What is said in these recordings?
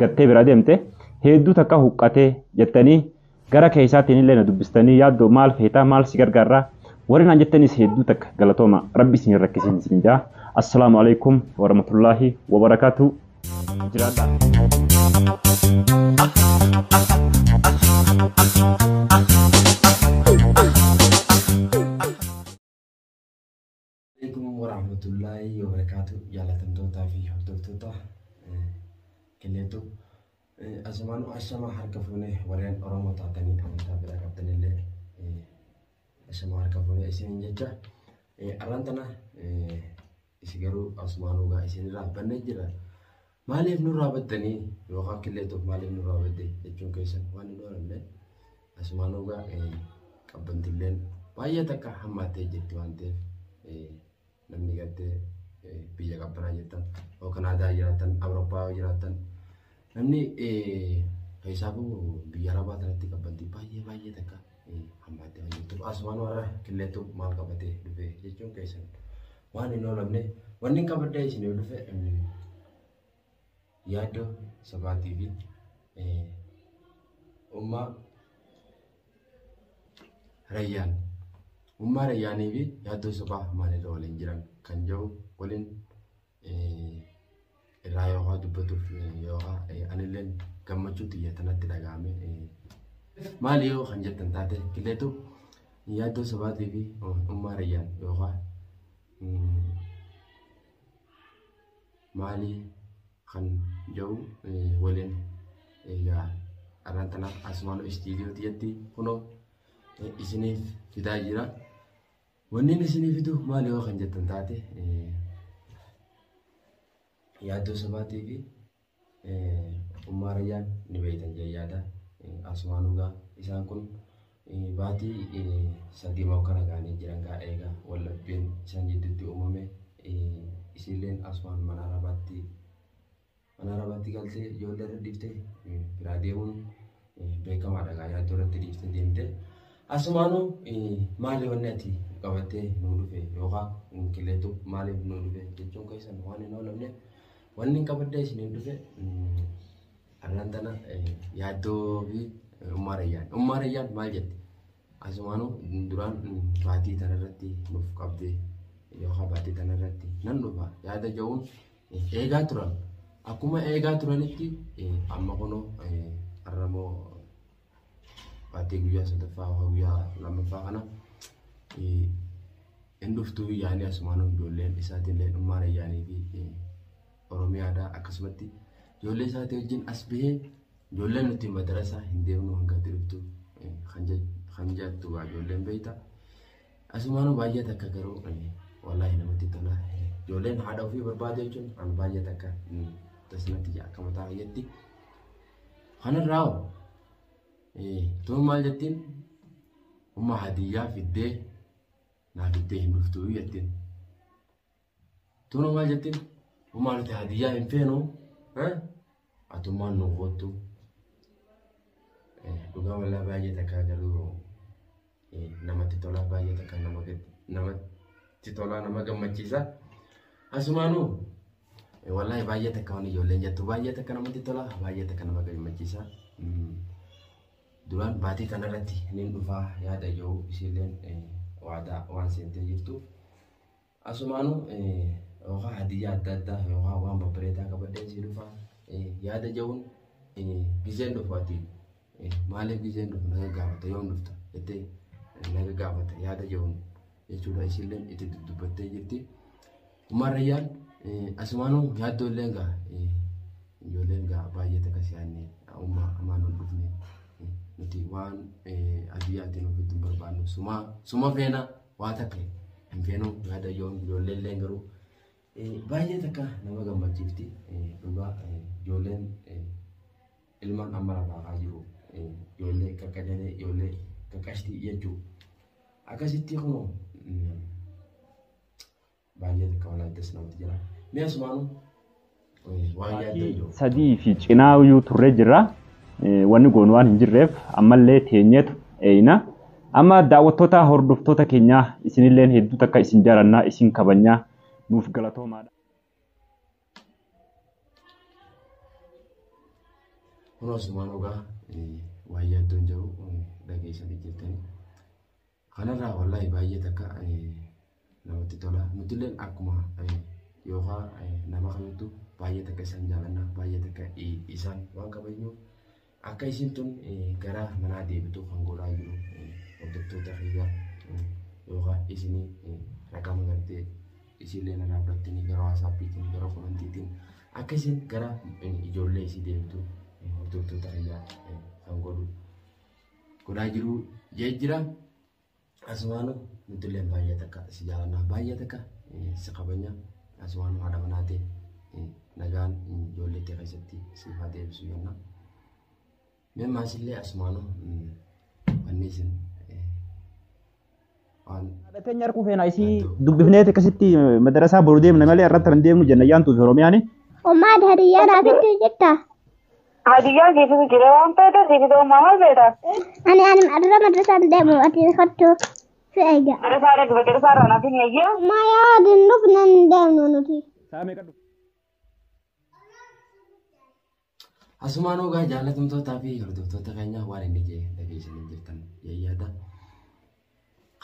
gattee bira deemte hedduu takka huqqatee jettanii gara keessaatiin illee na dubbistanii yaaddoo maal feetaa maal si gargaarraa warri naan jettanis hedduu takka galatooma rabbi isin hin rakkisin isin jaa assalaamu alaikum warahmatullaahi wabarakaatuu jiraadhaa. Waaleykum warahmatullahi wabarakatu jaalatamtootaa fi hordoftoota killeetu asumaanu ashama harka fuune warreen oromoo taatanii amantaa biraa qabdanillee ashama harka fuune isiniin jecha arraan tana isi garuu asumaanuu gaa isinirraa bannee jira Maaliif nurraa baddanii yookaan killee tokko maaliif nurraa badde jechuun keessan waan hin oolanne asumaan ogaa qabbantilleen baay'ee takka hammaattee jirti waan ta'eef namni gartee biyya qabbanaa jirtan yoo kanaadaa jiraatan awurooppaa yoo jiraatan namni keessaafuu biyya arabaa kanatti qabbanti baay'ee baay'ee takka hammaattee waan jirtuuf asumaan warra killeetu maal qabatee dhufe jechuun keessan Waan hin oolamne wanni hin qabadda isin yoo dhufe yaaddoo sobaatii fi ummaa rayyaan ummaa rayyaanii fi yaaddoo sobaa maalirra waliin jiran kan jedhu waliin irraa yoo haa dubbatuuf yoo haa anillee gammachuu xiyya tanatti dhaga'ame maali yoo kan jettan taate killeetu yaaddoo sabaatii fi ummaa rayyaan yoo haa maali kan jedhu waliin egaa arraan tana asumaan istiidiyoo xiyyatti kunoo isiniif fidaa jira. Wanni inni isinii fidu maali yoo kan jettan taate yaaddoo sabaatii fi ummaa rayyaan ni beeytan jee yaada asumaan dhugaa isaan kun baatii sadii moo kana ga'anii jiran gaa eegaa wal dhabbiin isaan jidduutti uumame isiilleen asumaan manaa rabaatti Mana rabaatti galtee ijoollee irra dhiifte biraa deemuun beekamaadha gaa yaaddoo irratti dhiifte deemte. Asumaanuu maali wanni ati qabattee nuu dhufe yookaan qilleetu maaliif nuu dhufe jechuun keessan waan hin oolamne wanni qabaddee isiniin dhufe arraan tana yaaddoo fi ummaa rayyaan. Ummaa rayyaan maal jette? Asumaanuu duraan baatii tanarratti nuuf qabdee yookaan baatii tanarratti nan dhufa yaada ja'uun eegaa turan. Akkuma eegaa turanitti amma kunoo har'a immoo baatee guyyaa sadaffaa yookaan guyyaa lammaffaa kana hin dhuftuu yaanii asumaan ijoolleen isaatiin illee dhummaan ayyaanii fi Oromiyaadhaa akkasumatti ijoollee isaatii wajjin as bahee ijoolleen nuti madarasaa hin deemnu hanga itti dhuftu kan jettu ijoolleen beektaa. Asumaanuu baay'ee takka garuu wallaahi namatti tola. Ijoolleen haadha ofii barbaadu jechuun an baay'ee takka tasnatti jaa akka mataa fayyatti. Kanarraa hoo tuma maal jettiin umma hadiyyaa fiddee naa fiddee hin dhuftuu jettiin. Tuno maal jettiin? Homaa nuti hadiyyaa hin feenu. Atummaan nu koottu. Dhugaa wallaa baay'ee takkaa garuu namatti tolaa baay'ee takka nama namatti tolaa nama gammachiisa. Asumaanuu wallaahi baay'ee takka waan ijoolleen jettu baay'ee takka namatti tola baay'ee takka nama gammachiisa. Duraan baatii kanarratti niin dhufaa yaada yoo isiilleen waadaa waan seentee jirtuuf. Asumaanu yookaan hadiyyaa adda addaa yookaan waan babbareedaa qabadheen sii dhufa yaada ja'uun gizeen dhufu ati maaliif gizeen dhufu na gaggaafata yoom dhufta jettee na gaggaafata yaada ja'uun jechuudha isilleen itti dudubbattee jirti. Umar Rayyaan asumaanu yaaddoo illee gaa ijoolleen gaa baay'ee takka si'aanne umma amaan ol dhufne nuti waan adiyyaatiin ofitti hin barbaannu sumaa suma feenaa. Waa takka hin feenu yaada yoo hin ijoollee illee garuu baay'ee takka nama gammachiifti dhugaa ijoolleen ilmaan amma lafaa kaa jiru ijoollee qaqqajalee ijoollee qaqqashtii jechuu akkasitti kunoo Baay'ee takka walaayee das namatti jira. Mee asumaanu waan yaaddan Maatii jiru. sadii fi cinaa iyyuu turree jirra. Eh, Wanni goonu waan hin jirreef ammallee teenyeetu eeyna. Amma daawwattoota hordoftoota keenyaa isinilleen hedduu takka isin jarannaa isin kabajnaa nuuf galatoomaadha. Kun asumaan ogaa waan yaaddan jiru dhageessanii jirtanii. Kanarraa wallaahi baay'ee takka namatti tola. Nutilleen akkuma yookaan nama kamittu baay'ee takka isaan jaalanna baay'ee takka isaan waan kabajnuuf akka isiin tun gara manaa deebitu kan godhaa jiru hordoftoota kiyya yookaan isinii raqama gartee isiillee na dhaabbattanii gara waasaappiitiin gara komantiitiin akka isiin gara ijoollee isii deebitu hordoftoota kiyya kan godhu. godhaa jiru jee jira. Asumaanu nuti illee baay'ee takka si jaalannaa baay'ee takka si kabanya asumaanu haadha manaati nagaan ijoollee kee keessatti siif haa deebisu jenna. Mee maasillee asumaanu wanni isin waan Dhateen nyarkuu feena isii dubbifneeti akkasitti madarasaa boru deemna malee irratti hin deemnu jenna yaantuuf Oromiyaani. Ummaad hadiyyaa naaf itti jirta. Hadiyyaa siifis jira waan feete siifis uumaa maal feeta? Ani ani dura madrasaan deemu ati kottu si eega. Darasaa dhaqbe darasaa irraa naaf hin eeyyee. Ma yaadin dhufnan deemnu nuti. Saamee qadhu. Asumaan ogaa jaalatamtootaa fi hordoftoota keenyaa waan inni jee dhageessanii jirtan yaada.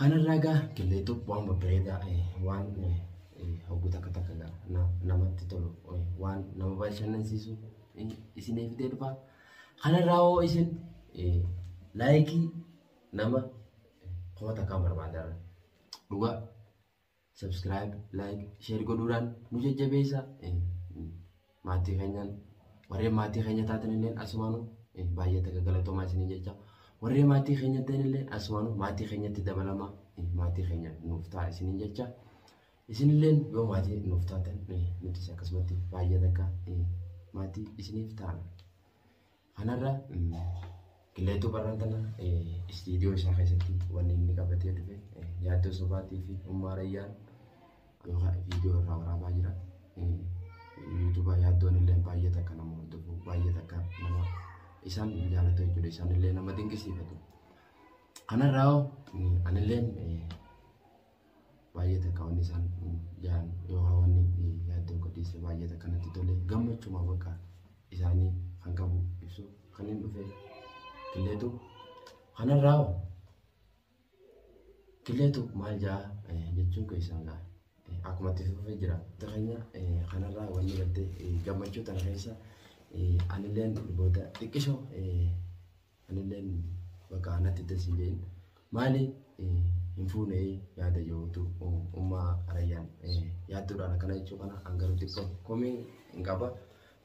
Kanarraa egaa qilleetu waan babbareedaa waan hawwatu takka takka namatti tolu waan nama bashannansiisu isiniif fidee dhufa. Kanarraa hoo isin laayikii nama kuma takkaan barbaadara. Dhugaa Subscribe, like, share godhuudhaan nu jajjabeessa. Maatii keenyaan warreen maatii keenya taatan illee asumaanu baay'ee takka galatoomaa isiniin jecha. Warreen maatii keenya ta'an illee asumaanu maatii keenyatti dabalamaa maatii keenya nuuf ta'a isiniin jecha. Isinillee yoo maatii nuuf taatan nutis akkasumatti baay'ee takka maatii isiniif taana. Kanarra qilleetuu barran kana istiidiyoo isaa keessatti wanni inni qabatee dhufe yaaddoo sobaatii fi ummaa rayyaan yookaan viidiyoo irraa waraabaa jira. Yuutuuba yaaddoon illee baay'ee takka nama hordofu baay'ee takka nama isaan jaalatu jechuudha isaan illee nama dinqisiifatu. Kanarraa hoo anillee baay'ee takka wanni isaan jaan yookaan wanni yaaddoon qodiisee baay'ee takka natti tole gammachuma bakka isaanii kan qabu ibsu kan hin dhufe killeetu kanarraa hoo killeetu maal jaa jechuun keessan gaa akkuma itti fufee jira keenya kanarraa wanni gartee gammachuu tana keessa anilleen booda xiqqisho Anileen bakka anatti tasi jeen maali hin fuune yaada jedhutu ummaa rayyaan yaadduudhaan akkana jechuu kana an garuu xiqqoo komii hin qaba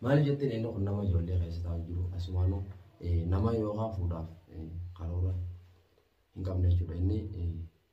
maaliif jetteen inni kun nama ijoollee keessa taa'u jiru asumaanuu nama yookaan fuudhaaf karoora hin qabne jechuudha inni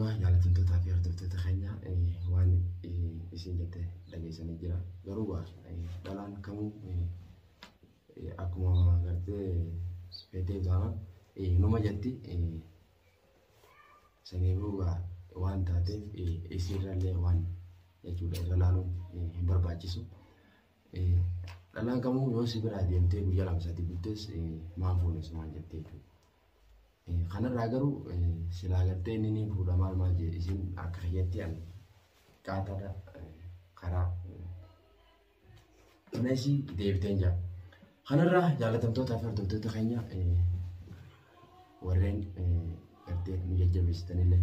Waan jaalatamtootaa fi hordoftoota keenya waan isin jette dhageessanii jira. Garuu waa dhalaan kamuu akkuma gartee feetee taanaan numa jetti. Sanii booda waan taateef isiirrallee waan jechuudha irra laaluun hin barbaachisu. Dhalaan kamuu yoo si biraa deemtee guyyaa lama sadii bultees maan fuune sumaan jettee jechuudha. Kanarraa garuu silaa gartee inni ni fuudha maal maal jee isin akka kiyyatti ani qaataadha karaa tunesii deebiteen jira. Kanarraa jaalatamtoota fi hordoftoota keenya warreen gartee nu jajjabeessitanillee.